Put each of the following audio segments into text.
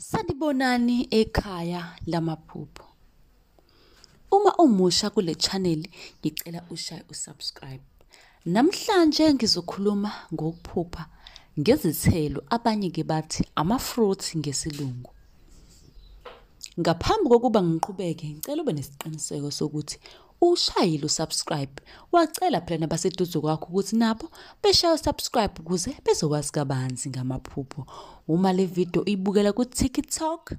Sanibonani ekhaya lamaphupho. Uma umusha kule channel ngicela ushaye usubscribe. Namhlanje ngizokhuluma ngokuphupha ngezithelo abanye ke bathi ama-fruit ngesilungu. Ngaphambi kokuba ngiqhubeke ngicela ube nesiqiniseko sokuthi ushayile usubscribe wacela phela nabaseduze kwakho ukuthi nabo beshaye usubscribe ukuze bezokwazi kabanzi ngamaphupho uma le video uyibukela ku-tiktok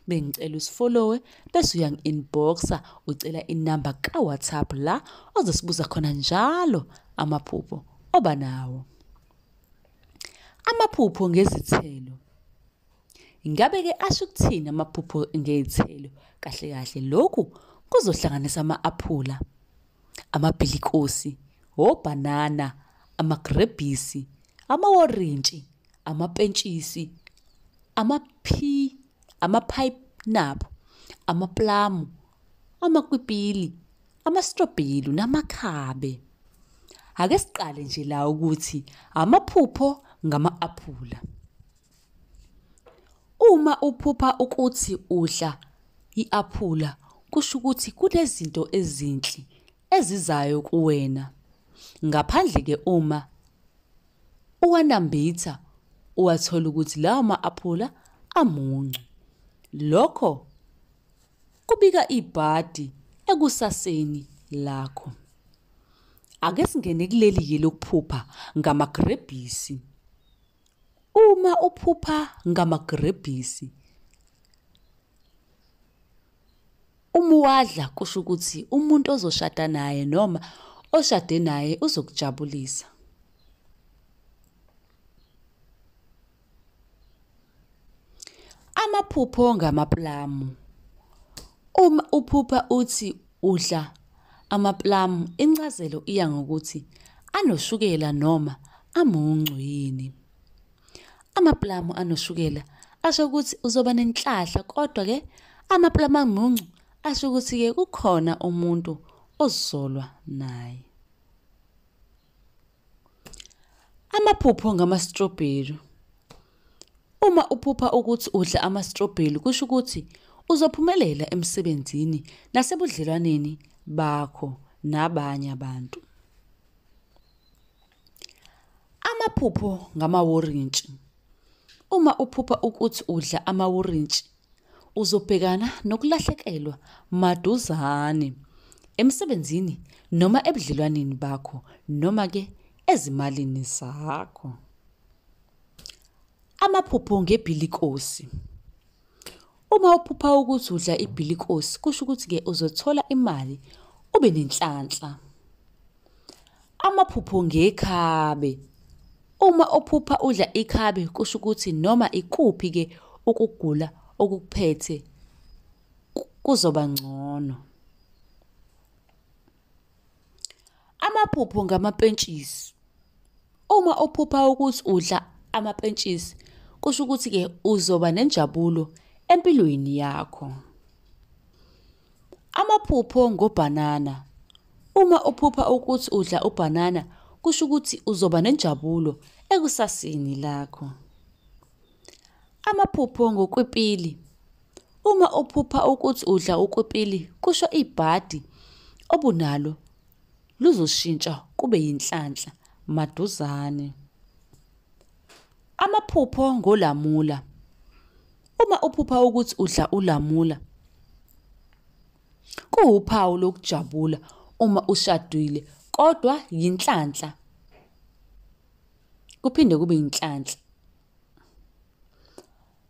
bengicela usifollowe bese uyangi-inboxa ucela inamba kawhatsapp la ozosibuza khona njalo amaphupho oba nawo amaphupho ngezithelo Ingabe ke asho ukuthini amaphupho ngezithelo? Kahle kahle lokhu kuzohlanganisa ama-aphula, amabhilikosi, obhanana, amagrebhisi, amaworintshi, amapentshisi, amaphi, amaphayinaphu, amaplamu, amakwipili, amastrobhelu namakhabe. Ake siqale nje la ukuthi amaphupho ngama-aphula. Uma uphupha ukuthi udla i-aphula kusho ukuthi kunezinto ezinhle ezizayo kuwena. Ngaphandle ke uma uwanambitha uwathola ukuthi lawo ma-aphula amuncu. Lokho kubika ibhadi ekusaseni lakho. Ake singene kuleli-ke lokuphupha ngamagrebhisi. Uma uphupha ngamagrebhisi uma uwadla kusho ukuthi umuntu ozoshada naye noma oshade naye uzokujabulisa. Amaphupho ngamaplamu. Uma uphupha uthi Udla amaplamu incazelo iya ngokuthi anoshukela noma amuncu yini. Amaplamu anoshukela asho ukuthi uzoba nenhlahla kodwa ke amaplamu amuncu asho ukuthi ke kukhona umuntu ozolwa naye. Amaphupho ngamastrobheli. Uma uphupha ukuthi udla amastrobheli kusho ukuthi uzophumelela emsebenzini nasebudlelwaneni bakho nabanye abantu. Amaphupho ngamawurintshi. Uma uphupha ukuthi udla amawurintshi Uzobhekana nokulahlekelwa maduzane emsebenzini noma ebudlelwaneni bakho noma ke ezimalini zakho. Amaphupho ngebhilikosi. Uma uphupha ukuthi udla ibhilikosi kusho ukuthi-ke uzothola imali ube nenhlanhla. Amaphupho ngekhabe. Uma ophupha udla ikhabe kusho ukuthi noma ikuphi ke ukugula okukuphethe kuzoba ngcono. Amaphupho ngamapentshisi. Uma uphupha ukuthi udla amapentshisi kusho ukuthi-ke uzoba nenjabulo empilweni yakho. Amaphupho ngobhanana. Uma uphupha ukuthi udla ubhanana kusho ukuthi uzoba nenjabulo ekusasini lakho. Amaphupho ngokwipili. Uma uphupha ukuthi udla ukwipili kusho ibhadi obunalo luzoshintsha kube yinhlanhla maduzane. Amaphupho ngolamula. Uma uphupha ukuthi udla ulamula kuwuphawu lokujabula uma ushadile kodwa yinhlanhla. Kuphinde kube yinhlanhla.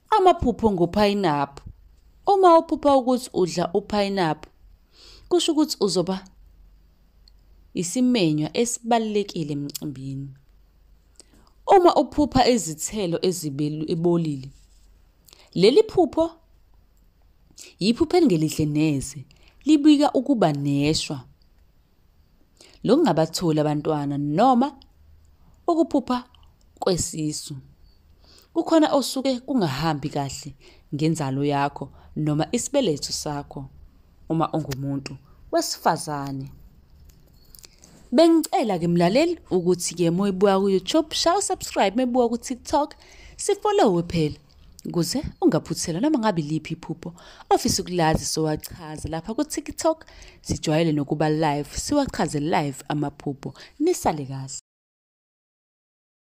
Amaphupho ngophayinaphu. Uma uphupha ukuthi udla uphayinaphu kusho ukuthi uzoba isimenywa esibalulekile emcimbini. Uma uphupha izithelo ezibolile, leli phupho yiphupho elingelihle neze, libika ukuba neshwa lokungabatholi abantwana noma ukuphupha kwesisu. Kukhona osuke kungahambi kahle ngenzalo yakho noma isibeletho sakho uma ungumuntu wesifazane. Bengicela ke mlaleli ukuthi ke moyibuka ku YouTube shawu subscribe mebuka ku TikTok sifollowe phela ukuze ungaphuthelwa noma ngabe liphi iphupho ofisa ukulazi sowachaza lapha ku TikTok sijwayele nokuba live siwachaze live amaphupho nisale kahle